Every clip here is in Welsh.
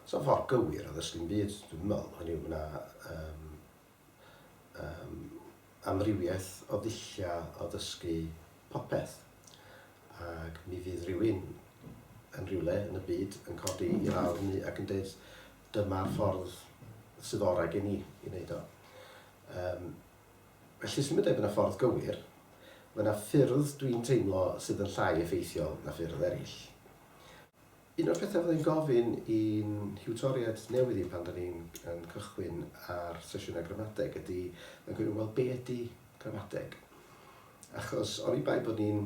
Sa fo'n ffordd gywir o ddysgu'm byd dwi'n meddwl, hynny yw ma' 'na yym yym amrywiaeth o ddulliau o ddysgu popeth ac mi fydd rhywun yn rhywle yn y byd yn codi i lawr hynny ac yn deud dyma'r ffordd sydd orau gen i i wneud o. Yym. Felly symud ef yn y ffordd gywir, mae 'na ffyrdd dwi'n teimlo sydd yn llai effeithiol na ffyrdd eraill. Un o'r pethau fydda i'n gofyn i'n hiwtoriaid newydd i pan 'da ni'n yn cychwyn ar sesiynau gramadeg ydy, mae'n gofyn, wel be ydy gramadeg? Achos oni bai bod ni'n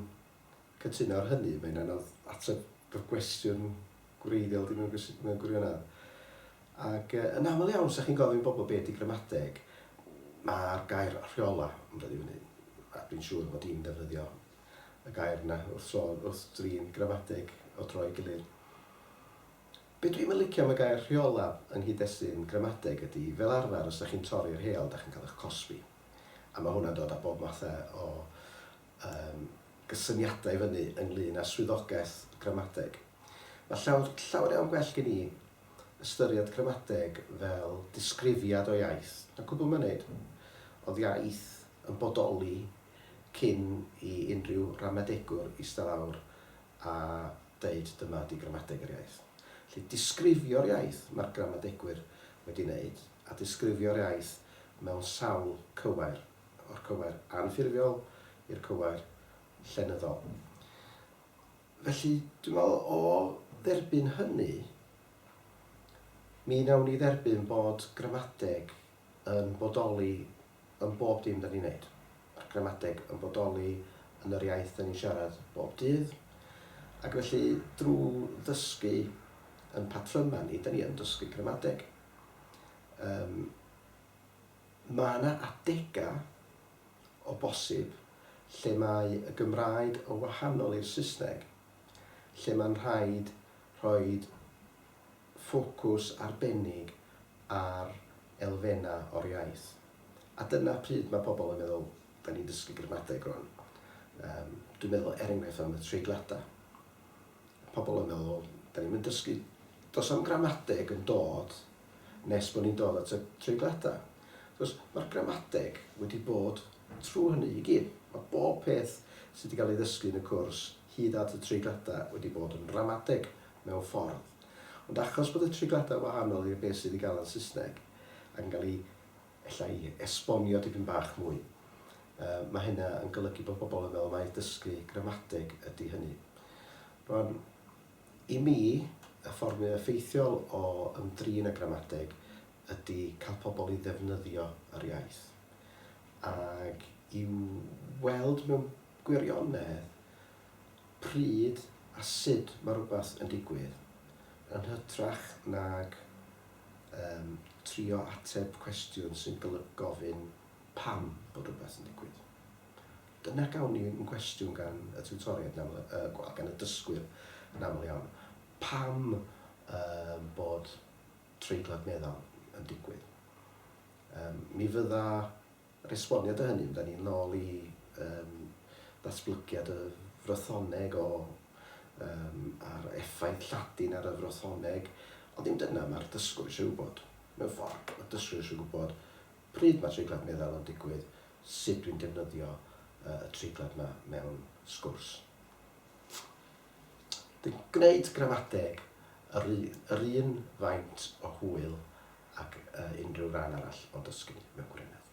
Cytuno ar hynny, mae'n anodd ateb fy cwestiwn gwreiddiol di mewn mewn gwirionedd. Ac yy yn aml iawn, os dach chi'n gofyn i bobl be ydy gramadeg, ma'r gair rheola yn dod i fyny. A dwi'n siŵr fod i'n defnyddio y gair yna wrth tro, wrth drin gramadeg o dro i gilydd. Be dwi'm yn licio am y gair rheola yng nghyd-destun gramadeg ydy, fel arfer, os dach chi'n torri'r rheol, dach chi'n cael eich cosbi. A ma' hwnna'n dod â bob matha o Yym, gysyniadau i fyny ynglŷn â swyddogaeth gramadeg. Mae llawer, llawer iawn gwell gen i ystyried gramadeg fel disgrifiad o iaith, na cwbl mae'n wneud. Oedd iaith yn bodoli cyn i unrhyw ramadegwr ista lawr a deud dyma ydi gramadeg yr iaith. Felly, disgrifio'r iaith mae'r gramadegwyr wedi wneud, a disgrifio'r iaith mewn sawl cywair o'r cywair anffurfiol i'r cywair llenyddol. Felly, dwi'n meddwl o dderbyn hynny, mi wnawn ni dderbyn bod gramadeg yn bodoli yn bob dim da ni'n wneud. Mae'r gramadeg yn bodoli yn yr iaith da ni'n siarad bob dydd, ac felly drwy ddysgu yn patrymau ni, da ni yn dysgu gramadeg. Um, Mae yna adegau, o bosib, lle mae y Gymraeg yn wahanol i'r Saesneg, lle mae'n rhaid rhoi ffocws arbennig ar elfennau o'r iaith. A dyna pryd mae pobl yn meddwl, 'dan ni'n dysgu gramadeg rŵan. Yym, dwi'n meddwl, er enghraifft, am y treigliadau. Pobl yn meddwl, 'dan ni'm yn dysgu... does 'na'm gramadeg yn dod nes bod ni'n dod at y treigliadau. Wrth gwrs, mae'r gramadeg wedi bod trwy hynny i gyd. Mae bob peth sydd wedi cael ei ddysgu yn y cwrs, hyd at y treigliadau, wedi bod yn ramadeg mewn ffordd. Ond achos bod y treigliadau yn wahanol i'r beth sydd wedi gael yn Saesneg, ac yn cael ei ella i esbonio dipyn bach mwy, uh, mae hynna yn golygu bod pobl yn meddwl mai dysgu gramadeg ydy hynny. Rwan, I mi, y ffordd mwyaf effeithiol o ymdrin â gramadeg ydy cael pobl i ddefnyddio yr iaith, ac i weld mewn gwirionedd pryd a sut mae rhywbeth yn digwydd, yn hytrach nag yym trio ateb cwestiwn sy'n golygu gofyn pam bod rhywbeth yn digwydd. Dyna gawn ni yn cwestiwn gan y tiwtoriaid, wel, gan y dysgwyr yn aml iawn. Pam um, bod treiglad meddal yn digwydd? Um, mi fydda resboniad o hynny, da ni'n nôl i um, ddatblygiad y frothoneg o, um, a'r effaith Lladin ar y frothoneg, ond ddim dyna mae'r dysgwr eisiau gwybod. Mewn ffordd, mae'r dysgwr eisiau gwybod Pryd mae treiglad meddal yn digwydd, sut dwi'n defnyddio y treiglad yma mewn sgwrs. Dwi'n gwneud gramadeg yr un faint o hwyl ag unrhyw ran arall o dysgu mewn gwirionedd.